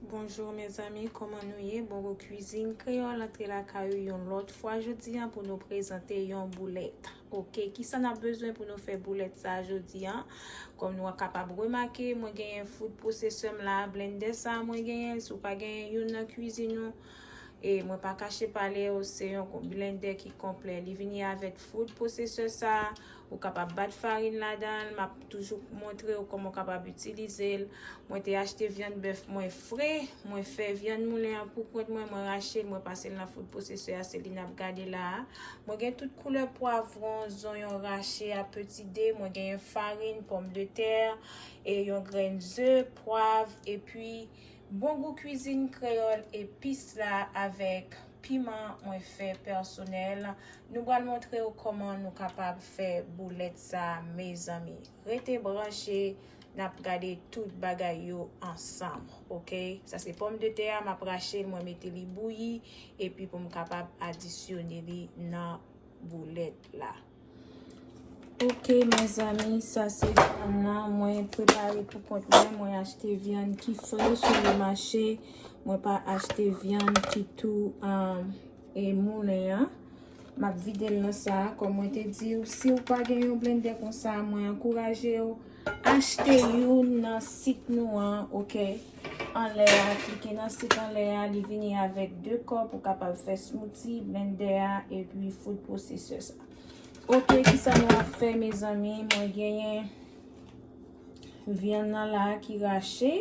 Bonjour mes amis, koman nou ye? Bongo Cuisine Créole antre lakay ou yon lòt fwa jodi an pou nou prezante yon boulèt. Ok, kisa n ap bezwen pou nou fè boulèt sa jodi an? Kòm nou a kapab remake, mwen genyen food processor m la, blender sa mwen genyen, si w pa genyen youn nan cuisine ou, E mwen pa kache pale w, se yon blende ki konplè. Li vini avèk food processor sa, ou kapab bat farin ladan l, map toujou montre w kòman w kapab itilize l. Mwen te achte vyann bèf mwen fre, mwen fè vyann moulen an pou kont mwen, mwen rache l, mwen pase l nan food processor a, se li nap gade la a. Mwen gen tout koulè pwavron, zonyon rache a peti de, mwen genyen farin, pòm de tè, e yon grenn ze, pwav, epi. Bon gou kwizin kreyòl epis la avèk piman mwen fè pèsonèl nou bal montrew kòman nou kapab fè boulèt sa mezanmi rete branche nap gade tout bagay yo ansanm ok sa se pòm de tè a map rachel mwen mete li bouyi epi poum kapab adisyone li nan boulèt la. Ok mezanmi sa se vyann nan mwen prepare pou kont mwen, mwen achte vyann ki fre sou le mache, mwen pa achte vyann ki tou e moulen an, m ap vide l nan sa a, kòm mwen te di ou si ou pa gen yon blendè konsa mwen ankouraje ou achte youn nan sit nou an ok. anlè a klike nan sik anlè a li vini avèk 2 kòp ou kapab fè smouti, blendè a epi food processor sa. Ok kisa nou ap fè mezanmi mwen genyen vyann nan la ki rache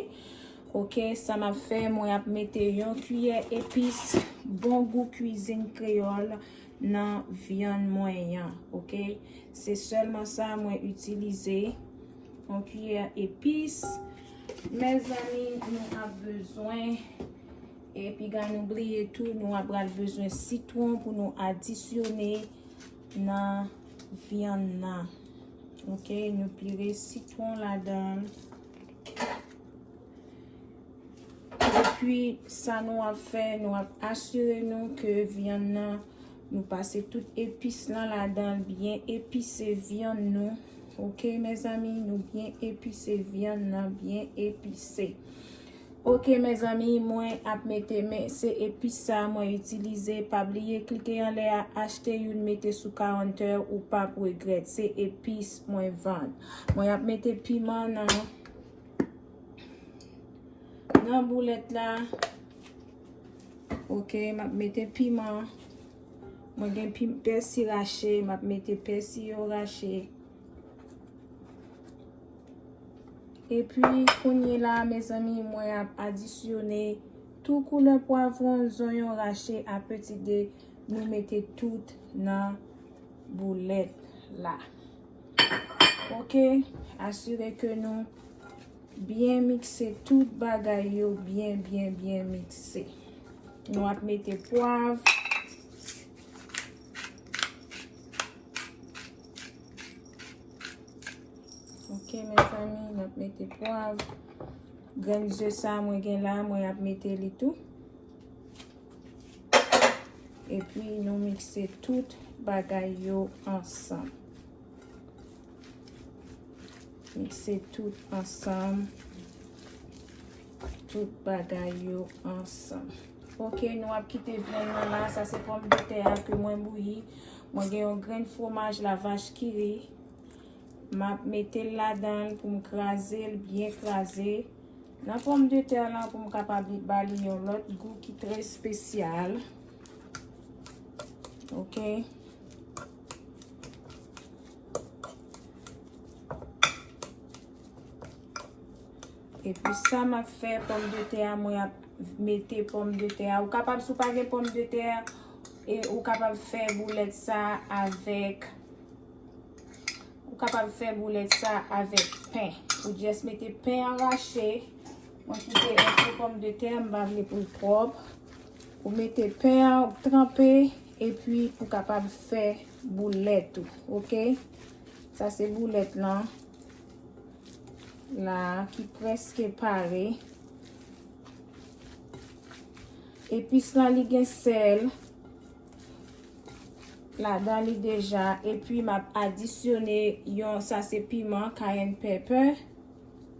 ok sa map fè mwen ap mete yon kiyè epis bon gou kwizin kreyòl nan vyann mwen yan ok se sèlman sa mwen itilize yon kiyè epis. Mezanmi nou ap bezwen e piga nou bliye tou nou ap pral bezwen sitwon pou nou adisyone nan vyann nan ok nou pire sitwon ladann epi sa nou ap fè nou ap asire nou ke vyann nan nou pase tout epis lan ladann byen epise vyann nou. Ok mezanmi nou byen epise vyann nan byen epise ok mezanmi mwen ap mete men se epis sa mwen itilize pa bliye klike anlè a achte youn mete sou kawntè ou pap regrèt se epis mwen vann mwen ap mete piman nan nan boulèt la ok map mete piman Mwen gen pim pèsi rache, m ap mete pèsi yo rache. E pi kounye la mezanmi mwen ap adisyone tou koulè pwavron, zonyon rache a peti de. Nou mete tout nan boulèt la. Ok, asire ke nou Byen mikse tout bagay yo byen byen byen mikse. Nou ap mete pwav. Ok mezanmi nou ap mete pwav. Grenn ze sa mwen gen la mwen ap mete li tou. Epi nou mikse tout bagay yo ansanm. Mikse tout ansanm. Tout bagay yo ansanm. Ok, nou ap kite vyann nan la. Sa se pòm de tè a ke mwen bouyi. Mwen gen yon grenn fwomaj la vach ki ri. M ap mete l ladan l pou m kraze l byen kraze. Nan pòm de tè la pou m kapab li ba li yon lòt gou ki trè espesyal. Ok. E pi sa m ap fè pòm de tè a, mwen ap mete pòm de tè a. Ou kapab sou pa gen pòm de tè a, e ou kapab fè boulèt sa avèk, ou kapab fè boulèt sa avèk pen. Ou jès mete pen an rache, mwen kite antre pòm de tè a, m pa vle pou l pwòp. Ou mete pen an, ou tranpe. Epi ou kapab fè boulèt ou ok. Sa se boulèt lan la ki prèske pare. Epis lan li gen sèl ladan li deja. Epi m ap adisyone yon sa se piman kayenn pèpè.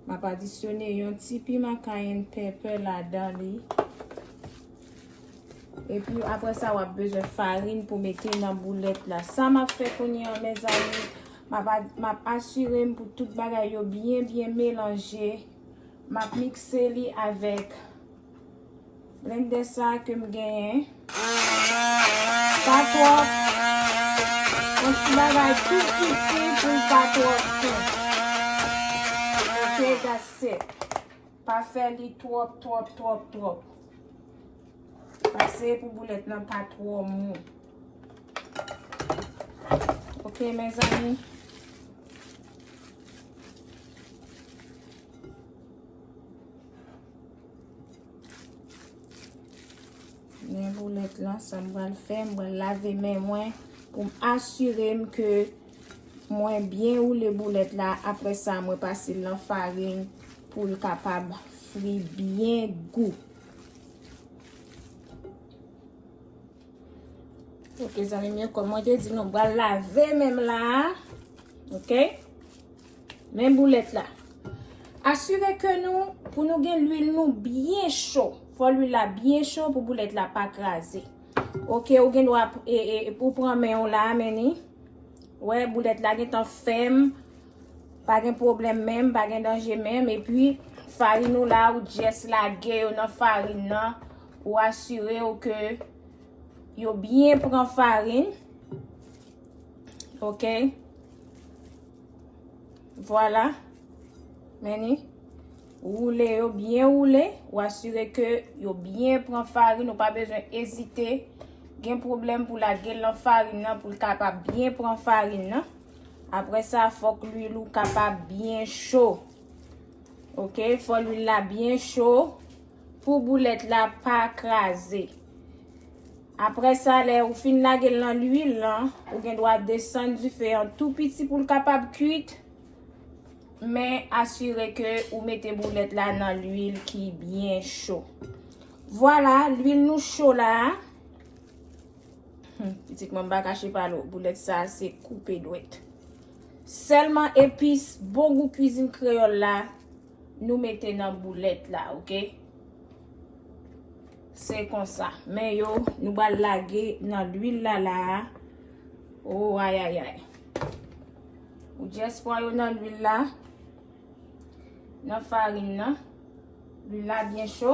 M ap adisyone yon ti piman kayenn pèpè ladan li. Epi apre sa wap bezwen farin pou mete nan boulèt la. Sa map fè kounye an mezanmi, map asire m pou tout bagay yo byen byen melanje. Map mikse li avèk blendè sa ke m genyen. Pa twòp, yon ti bagay tou piti pou l pa twòp tou. Ok, that's it. Pa fè li twòp twòp twòp twòp. Pase pou boulèt nan pa twò mou. Ok mezanmi. Mwen boulèt lan sa mwen fè. Mwen lave men mwen. Pou m asire m ke. Mwen byen woule boulèt la apre sa mwen pase l nan farin pou l kapab fri byen gou. Ok zanmim yo kòm mwen te di nou bal lave menm la a. Ok. Men boulèt la. Asire ke nou pou nou gen lwil nou byen cho. Fò lwil la byen cho pou boulèt la pa kraze. Ok ou gen dwa e e pou pran men w la a men ni. Wè boulèt la gentan fèm. Pa gen pwoblèm menm, pa gen danje menm. E pi farin ou la ou jès lage yo nan farin nan. Ou asire ou ke yo byen pran farin. Ok. Vwala. Meni. Roule yo byen roule, ou asire ke yo byen pran farin, ou pa bezwen ezite gen pwoblèm pou lage l nan farin nan pou l kapab byen pran farin nan. Apre sa fòk lwil ou kapab byen cho. Ok, fò lwil la byen cho pou boulèt la pa kraze. Apre sa lè ou fin lage l nan lwil lan, ou gen dwa desann dife an tou piti pou l kapab kuit. Men asire ke ou mete boulèt la nan lwil ki byen cho. Vwala, lwil nou cho la. Pitit mwen pa kache pa nou, boulèt sa se koupe dwèt. Sèlman epis bon gou kwizin kreyòl la nou mete nan boulèt la, ok? Se konsa. Men yo, nou ba lage nan lwil la la. Ou ayayay. Ou just pran yo nan lwil la, nan farin nan. Lwil la byen cho.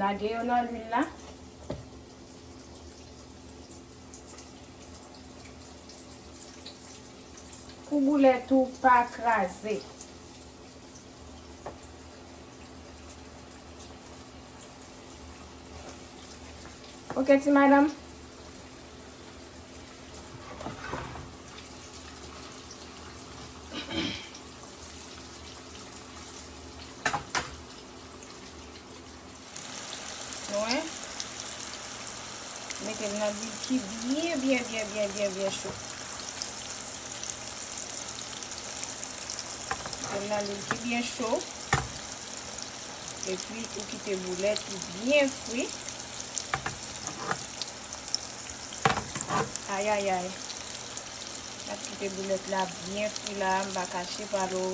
Lage yo nan lwil la. Pou boulet ou pa kraze. Ok ti madam. Nou wè? Mete l nan dil ki byen, byen, byen, byen, byen, byen cho. Mete l nan dil ki byen cho. E pi, ou kite boulet ou byen fri. Ayayay. Mwen kite boulet la byen fri la, m pa kache pa nou.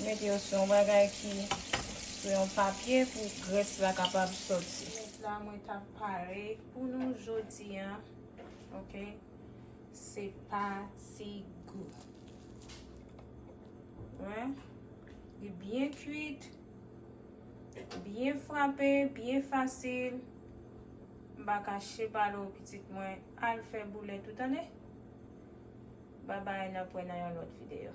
Mete yo sou yon bagay ki sou yon papye pou gress la kapab soti. Mèt la mwen ta pare pou nou jodi a. Ok. Se pa ti gou. Wè. Li byen kuit. Byen frape, byen fasil. M pa kache pa nou pitit mwen al fè boulèt ou tande. Babay n ap wè nan yon lòt videyo.